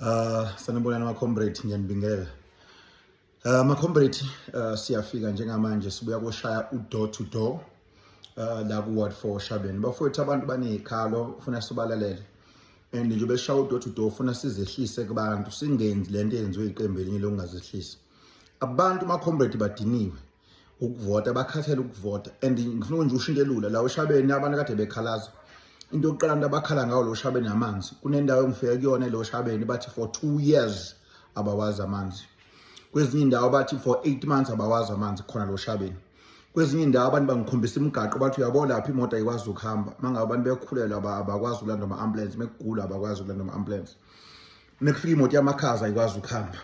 Uh, sanibonani ama-comrade ngiyanibingela uh, ah, ama-comrade uh, siyafika njengamanje sibuya koshaya u-door to door uh, la ku-ward four shabeni bafowethu abantu baneyikhalo ufuna sibalalele and nje beshaya u-door to door ufuna sizehlise kubantu singenzi le nto eyenziwe iqembu elinye lokungazehlisi abantu ama-comrade badiniwe ukuvota bakhathele ukuvota and ngifuna nje ushintshe lula la oshabeni abantu kade bekhalaza into yokuqala abantu abakhala ngawo lo shabeni amanzi kunendawo engifike kuyona lo shabeni bathi for 2 years abawazi amanzi kwezinye indawo bathi for 8 months abawazi amanzi khona lo shabeni kwezinye indawo abantu bangikhombisa imigaqo bathi uyabo lapha imoto ayikwazi ukuhamba mangabe abantu bekhulelwa abakwazi ukulanda ama ambulance mekugula abakwazi ukulanda ama ambulance nekufika imoto yamakhaza ayikwazi ukuhamba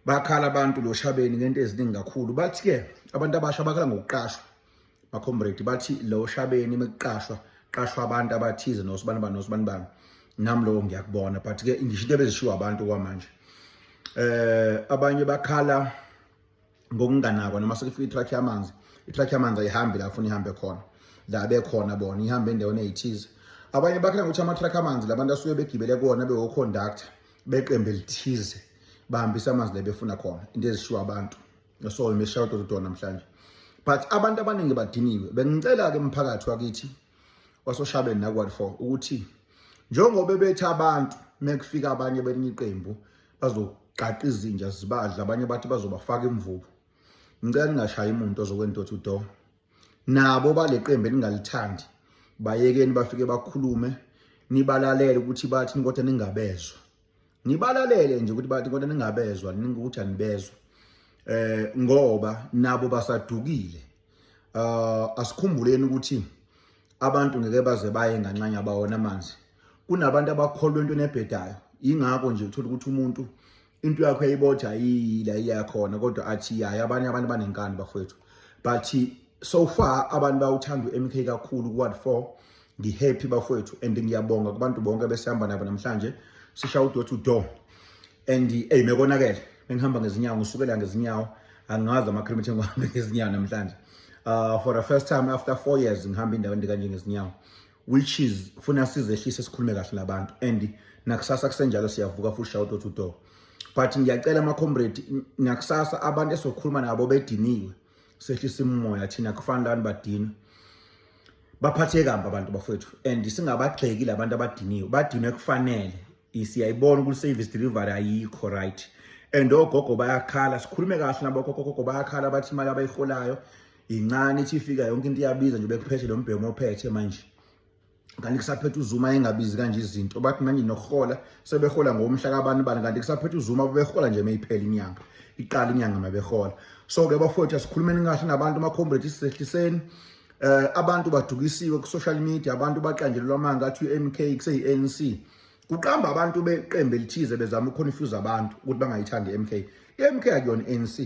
Bakhala abantu lo Shabeni ngento eziningi kakhulu. Bathi ke abantu abasha bakhala ngokuqashwa. Ba comrade bathi lo Shabeni mekuqashwa qashwa abantu abathize nosibani bani nosibani bani. Nami lowo ngiyakubona but ke ngisho into ebezishiwa abantu kwamanje. Eh abanye bakhala ngokunganakwa noma sekufika itruck yamanzi. Itruck yamanzi ayihambi la ufuna ihambe khona. La bekhona bona ihambe endaweni ezithize. Abanye bakhala ngokuthi ama truck amanzi labantu asuke begibele kuwona bewo conductor. beqembu elithize bahambisa amanzi le befuna khona into ezishiwa abantu so imishado kodwa namhlanje but abantu abaningi badiniwe bengicela ke umphakathi wakithi wasoshabeni nakward 4 ukuthi njengoba bethi abantu mekufika abanye belinye iqembu bazoqaqa izinja zibadla abanye bathi bazobafaka imvubu ngicela ningashaya umuntu ozokwenza uthi udo nabo baleqembu elingalithandi bayekeni bafike bakhulume nibalalele ukuthi bathi kodwa ningabezwa nibalalele nje ukuthi bathi kodwa ningabezwa ningukuthi anibezwa eh ngoba nabo basadukile uh asikhumbuleni ukuthi abantu ngeke baze baye nganxanya bawona amanzi kunabantu abakholwa into nebhedayo ingakho nje uthola ukuthi umuntu into yakho yayiboja yila iyakhona kodwa athi yayi abanye abantu banenkani bafowethu but so far abantu bawuthanda uMK kakhulu ku ward 4 ngihappy bafowethu and ngiyabonga kubantu bonke besihamba nabo namhlanje sisha udot udo and hey mekonakele bengihamba ngezinyawo ngisukela ngezinyawo angazi ama kilometer ngihamba ngezinyawo namhlanje uh for the first time after 4 years ngihamba indawo endikanje ngezinyawo which is funa sizehlise sikhulume kahle nabantu and nakusasa kusenjalo siyavuka futhi shout out to door but ngiyacela ama comrade nakusasa abantu esokhuluma nabo bediniwe sehlisa imoya thina kufanelani badina baphathe kambi abantu bafowethu and singabagxeki labantu abadiniwe badinwe kufanele siyayibona ukuthi service delivery ayikho right and ogogo bayakhala sikhulume kahle nabo gogo bayakhala bathi imali abayiholayo incane ithi ifika yonke into iyabiza nje bekupheshe lo mbhemu ophethe manje kanti kusaphethe uzuma engabizi kanje izinto bathi manje nokuhola sebehola ngomhla kabani bani kanti kusaphethe uzuma bebehola nje meyiphela inyanga iqala inyanga mabehola so ke bafowethu asikhulumeni kahle nabantu ama-comrade sisehliseni eh abantu badukisiwe ku social media abantu baqanjelwa amanga athi uMK kuseyi ANC kuqamba abantu beqembe elithize bezama uconfuse abantu ukuthi bangayithandi iMK iMK akuyona ANC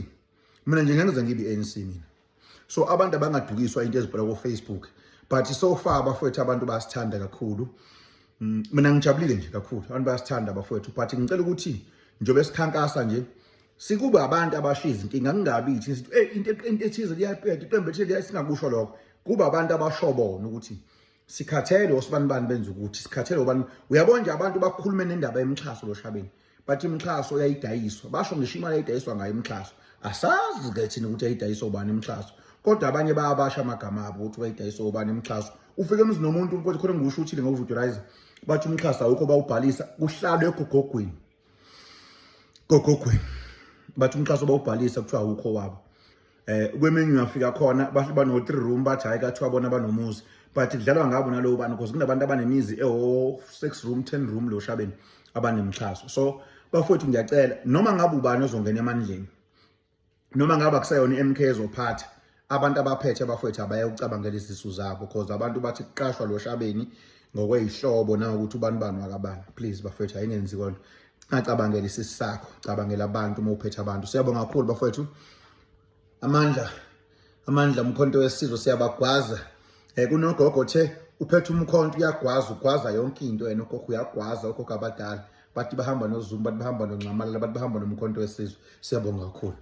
mina nje ngeke ngibe ANC mina so abantu abangadukiswa into ezibhala ko Facebook but so far abafowethu abantu basithanda kakhulu mm, mina ngijabulile nje kakhulu abantu bayasithanda abafowethu but ngicela ukuthi njobe sikhankasa nje sikuba abantu abashiya izinkinga kungabi yithi sithi hey into into ethize liyaqeda iqembu ethize liyasingakusho lokho kuba abantu abashobona ukuthi sikhathele osibanibani benza ukuthi sikhathele ubani uyabona nje abantu bakhulume nendaba yemixhaso lo shabeni bathi imixhaso yayidayiswa basho ngisho imali yayidayiswa ngayo imixhaso asazi ke thina ukuthi yayidayiswa ubani imixhaso kodwa abanye bayabasha amagama abo ukuthi wayidayiswa ubani imixhaso ufike emzini nomuntu kodwa khona ngiwusho uthile ngovutorizer bathi umxhaso awukho bawubhalisa kuhlalwe egogogweni gogogwe bathi umxhaso bawubhalisa kuthiwa awukho wabo eh kweminye uyafika khona bahle bano three room bathi hayi kathiwa bona banomuzi but kudlalwa ngabo nalowo bantu because kunabantu abanemizi ewo six room ten room lo shabeni abanemxhaso so bafowethu ngiyacela noma ngabe ubani ozongena emandleni noma ngabe akusayona iMK ezophatha abantu abaphethe abafowethu abaye ukucabangela izisu zabo because abantu bathi kuqashwa lo shabeni ngokweyihlobo na ukuthi ubani bani wakabani please bafowethu ayingenziwa lento ngacabangela isisi sakho cabangela abantu uma uphethe abantu siyabonga kakhulu bafowethu amandla amandla umkhonto wesizwe siyabagwaza um kunogogo the uphethe umkhonto uyagwaza ugwaza yonke into yena ugogo uyagwaza ogogo abadala bathi bahamba nozumu bathi bahamba nonxamalala bathi bahamba nomkhonto wesizwe siyabonga kakhulu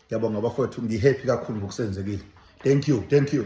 ngiyabonga bafowethu ngihappy kakhulu ngokusenzekile thank you thank you